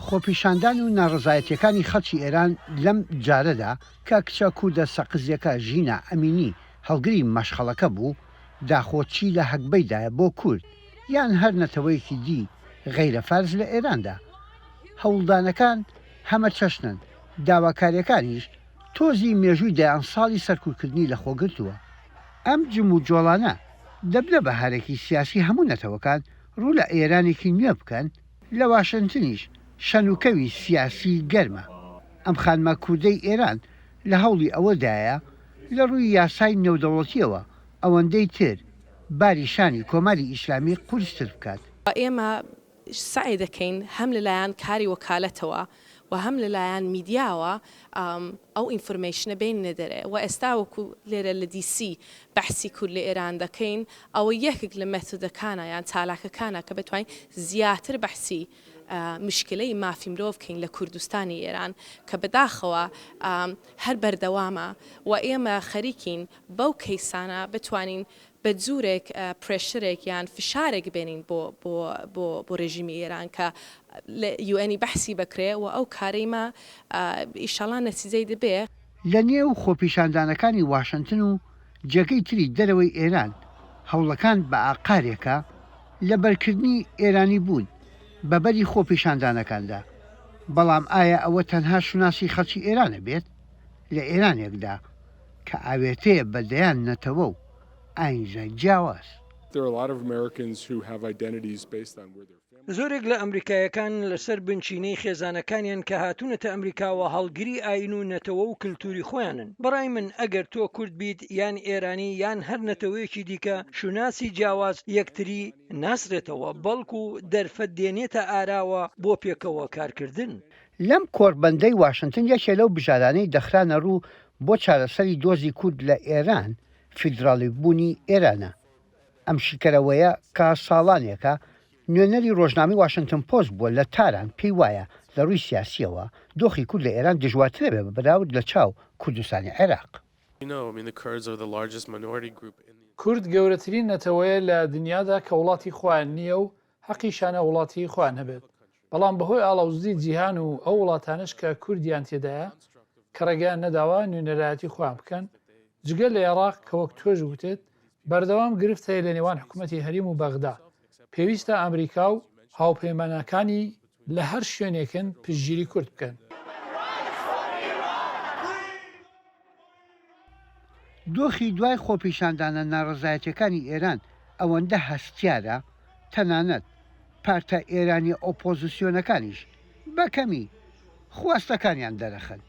خۆپیشاندان و ناڕەزایەتییەکانی خەڵکی ئێران لەم جارەدا کە کچە کوردە سەقزییەکە ژینا ئەمینی هەڵگری مەشخەڵەکە بوو، داخۆ چی لە هەگبەیدایە بۆ کورد یان هەر نەتەوەیەکی دی غەیرە فارس لە ئێراندا؟ هەوڵدانەکان هەمە چەشنن، داواکارییەکانیش تۆزی مێژووی دەیان ساڵی سەرکوتکردنی لە خۆ گرتووە. ئەم جموجۆڵانە دەبنە بەهارێکی سیاسی هەموو نەتەوەکان، ڕوو لە ئێرانێکی نوێ بکەن. لە واشنتنیش شەن و کەوی سیاسی گەرمە. ئەم خانمە کوردەی ئێران لە هەوڵی ئەوە دایە لە ڕووی یاسای نێودەوڵەتییەوە ئەوەندەی تر باری شانی کۆماری ئیسلامی قورستر بکات. ئێمە سەعی دەکەین هەم لە لایەن کاری وەکالەتەوە و هەم لە لایەن میدیاوە ئەو ئینفورمەیشنە بێننە دەرێ وە ئێستا وەکو لێرە لە دی سی بەحسی کورد لە ئێران دەکەین ئەوە یەکێک لە مێتۆدەکانە یان چالاکەکانە کە بتوانین زیاتر بەحسی مشکلەی مافی مرۆڤ بکەین لە کوردستانی ئێران کە بەداخەوە هەر بەردەوامە و ئێمە خەریکین بەو کەیسانە بتوانین بە جورێک پرێشرێک یان فشارێک بێنین بۆ بۆ بۆ بۆ رێژیمی ئێران کە لە یوئێنی بەحسی بەکرێ و ئەو کارەی مە ئیشەڵا نەتیجەی دبێ. لە نێو خۆپیشاندانەکانی واشنتن و جێگەی تری دەرەوەی ئێران هەوڵەکان بە ئاقارێکە لە بەرکردنی ئێرانی بوون بە بەری خۆپیشاندانەکاندا بەڵام ئایا ئەوە تەنها شوناسی خەڵکی ئێرانە بێت لە ئێرانێکدا کە ئاوێتەیە بە دەیان نەتەوە و ئاینزە جیاواز. زۆرێک لە ئەمریکاییەکان لەسەر بنچینەی خێزانەکانیان کە هاتوونەتە ئەمریکاوە هەڵگری ئایین و نەتەوە و کلتوری خۆیانن. بەڕای من ئەگەر تۆ کورد بیت یان ئێرانی یان هەر نەتەوەیەکی دیکە شوناسی جیاواز یەکتری ناسرێتەوە بەڵکو دەرفەت دێنێتە ئاراوە بۆ پێکەوە کارکردن. لەم کۆڕبەندەی واشنتن یەکێ لەو بژارانەی دەخرانە ڕوو بۆ چارەسەری دۆزی کورد لە ئێران فیدراڵی بوونی ئێرانە. ئەم شیکەرەوەیە کە ساڵانێکە نوێنەری ڕۆژنامەی واشنتن پۆست بووە لە تاران پێی وایە لە ڕووی سیاسییەوە دۆخی کورد لە ئێران دژوارترە بە بەراورد لە چاو کوردستانی عێراق. کورد گەورەترین نەتەوەیە لە دنیادا کە وڵاتی خۆیان نییە و هەقیشیان هاوڵاتیی خۆیان هەبێت. بەڵام بەهۆی ئاڵاوزدی جیهان و ئەو وڵاتانەش کە کوردیان تێدایە کە ڕێگەیان نەداوە نوێنەرایەتی خۆیان بکەن، جگە لە ئێڕاق کە وەک تۆش وتت بەردەوام گرفت هەیە لە نێوان حکومەتی هەریم و بەغدا، پێویستە ئەمریکا و هاوپەیمانەکانی لە هەر شوێنێکن پشتگیری کورد بکەن. دۆخی دوای خۆپیشاندانە ناڕەزایەتیەکانی ئێران ئەوەندە هەستیارە، تەنانەت پارتە ئێرانیە ئۆپۆزسیۆنەکانیش بە کەمی خواستەکانیان دەرەخەن.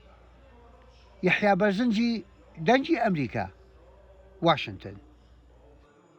یەحیا بەرزنجی، دەنگی ئەمریکا، واشنتن.